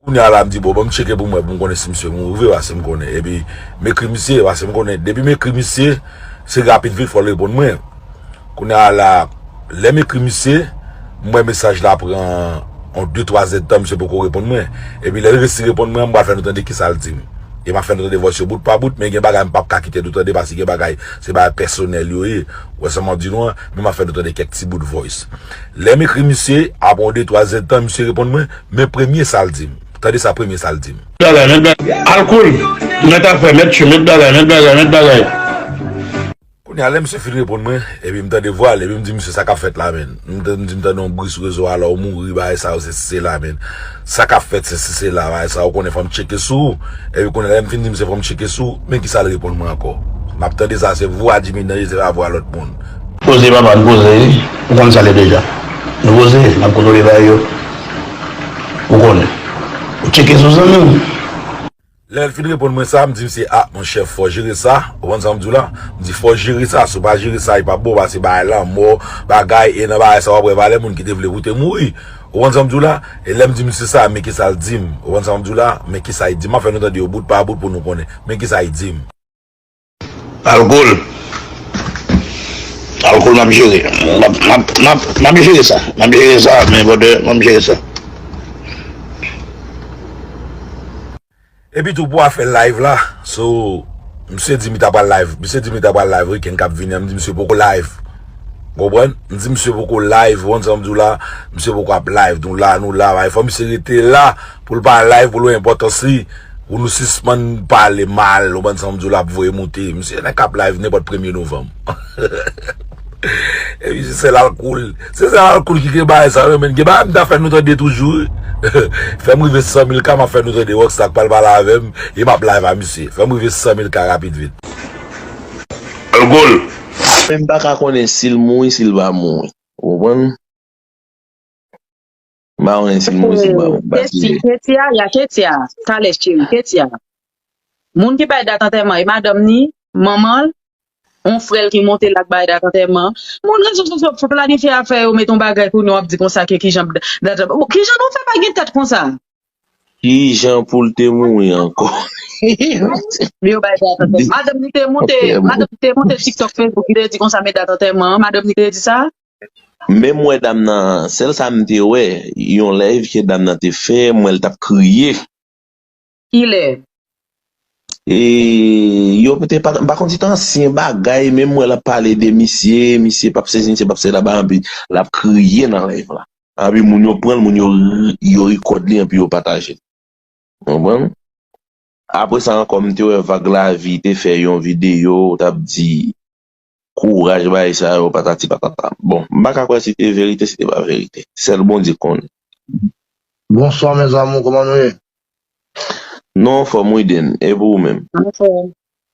Kounye a la m di bon banm tcheke pou m wè pou m konnen si misye mouri vre pase m konnen epi m ekri misye pase m konnen depi m ekri misye se rapid vit fò l reponn mwen kounye a la lè m ekri misye m wè mesaj la pran yon de twa zèdtan misye poko reponn mwen epi lè l resi reponn mwen an m pral fè nou tande kisa l di m e m ap fè nou tande vòs yo bout pa bout men gen bagay m pap ka kite nou tande paske gen bagay se bagay pèsonèl yo ye ou wè sa m ap di nou an men m ap fè nou tande kèk ti bout voice lè m ekri misye apre yon de twa zèdtan misye reponn mwen. Men premye sa l di m. Tande sa premye sa l di m. Bagay, met bagay. Alcool! Met afè, met chou, met bagay, met bagay, met bagay. Kounye a, lè misye fin reponn mwen, epi m tande vwa l, epi m di misye sa k ap fèt la menn? M di m tande yon bri sou rezo a la ou mouri, bagay sa yo, sesi sela menn. Sa k ap fèt, sesi sela, bagay sa yo, ou konnen fò m tcheke sou ou. Epi kounye a, lè m fin di misye fò m tcheke sou ou, men kisa l reponn mwen ankò? M ap tande sa, se vwa Djimy Danje, se pa vwa lòt moun. Poze papa n poze ou konn sa le deja nou poze nap kontwole bay yo ou konnen ou tcheke sou zanmi w. Lèl fin reponn mwen sa, m di misye ah mon chèf fò jere sa, ou konn sam diw la, m di fò jere sa, si w pa jere sa li pap bon pase bagay lanmò, bagay e nan bagay sa wap wè valè moun ki te vle pou te mouri, ou konn sam diw la, e lèm di misye sa men kisal dim, ou konn sam diw la, men kisa li dim, map fè nou tande yo bout pa bout pou nou konnen, men kisa li dim. Alcool Alcool map jere Map jere sa Map jere sa men brother Map jere sa. Epi tou pou afè live la so misye di li ta pral live misye di li ta pral live weekend kap vini an m di misye poko live ou konprann m di misye poko live ou konprann sa m diw la misye poko ap live nou la nou la fò misye rete la. Pou l pa live pou l wè enpòtans li pou nou sispann pale mal ou bann sanwont di w la ap voye moute misye nan kap live nenpòt premye novanm epi se sèl alkoul se sèl alkoul ki gen bagay sa yo menn gen bagay m ta fè nou tande toujou wi fè m rive 100 mil ka m ap fè nou tande Rockstar k pral pale avè m e m ap live a misye fè m rive 100 mil ka rapid vit. Alcool. Menm paka konnen sil mouri sil pa mouri ou konprann. Mawen se mwen se mawen m pa tire. Ketia ya Ketia talè cheri Ketia moun ki bay dat antèman e madanm ni manman l on frè l ki monte la k bay dat antèman moun rezo sosyo p planifye afè yo met on bagay kounye w ap di konsa ke kijan dat antèman bon kijan nou fè pa gen tèt konsa. Kijan pou l te mouri ankò. Yo bay dat antèman madanm ni te monte madanm ni te monte tiktok facebook li te di konsa men dat antèman madanm ni te di sa. Menm wè dam nan sèl sa m te wè yon live ke dam nan te fè m wè l tap kriye. Kilè? Eee yo te pa m pa konn se te ansyen bagay menm wè lap pale de misye misye pap sesi misye pap sela bagay anpi lap kriye nan live la anpi moun yo pranl moun yo yo rikòd li anpi yo patajel ou konprann apresa ankò m te wè vag lavi te fè yon video ou tap di. Kouraj bagay sa yo patati patata bon m paka kwè si te verite si te pa verite sèl Bondye konn. Bonswa mes amour koman nou ye. Nou anfòm wi Den e pou ou menm. Anfòm.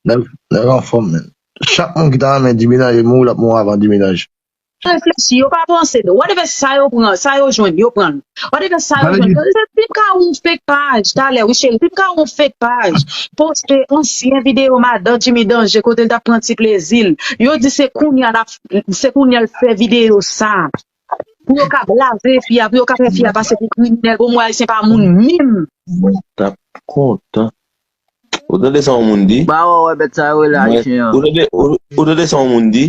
Nèg anfòm menn. Chak moun ki ta renmen Diminaj e mouri lap mouri avan Diminaj. Yo reflechi, yo pa panse. Whatever sa yo pran, sa yo jwenn, yo pran l. Whatever sa yo jwenn. Yo di, si m ka wè yon fake paj talè wi cheri, si m ka wè yon fake paj poste ansyen videyo madan Jimmy Danger kote l t ap pran ti plezi l. Yo di se kounye a l ap, se kounye a l fè videyo sa a. Pou yo ka blaze fi a, pou yo ka fè fi a pase pou kriminèl. Bon, mwen Ayisyen pa moun menm. Mwen t ap kontan. Ou tande sa yon moun di? Ba wè wè bèt sa yo rele Ayisyen an. Ou tande sa yon moun di?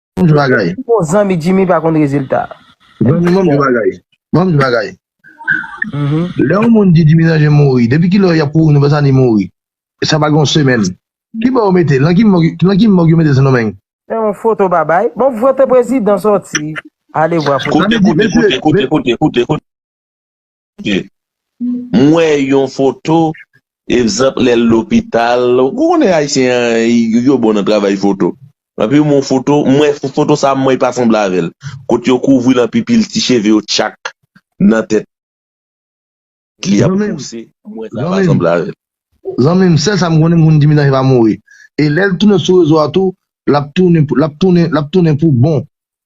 Mwen di bagay. Ki bon zanmi Jimmy pa konn rezilta. Zanmi mwen di bagay. Mwen di bagay. Lè yon moun di Jimmy Lange mouri, depi ki lè yap kouri nou pa sa li mouri? Sa pa gen yon semèn. Ki bò yo mete l? Nan ki mòg, nan ki mòg yo mete l Sendomeng? Se yon foto babay. Bon foto prezidan sòti. Alevwa foto. Koute, koute, koute, koute, koute, koute. M wè yon foto Ekzanp lè l lopital Ou konnen ayisyen yo bon nan travay foto Epi m wè yon foto M wè foto sa m wè pa sanble avè l Kote yo kouvri l anpi pil ti cheve yo tchak nan tèt li ap pouse M wè sa pa sanble avè l. Zanmi m sèl sa m konnen m konn di mitan epa mouri e lè l tounen sou rezo a tou l ap tounen l ap tounen l ap tounen pou bon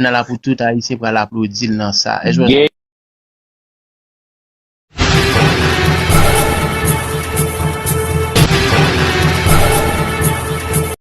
Nan la pou tout ayisyen pral aplodil nan sa.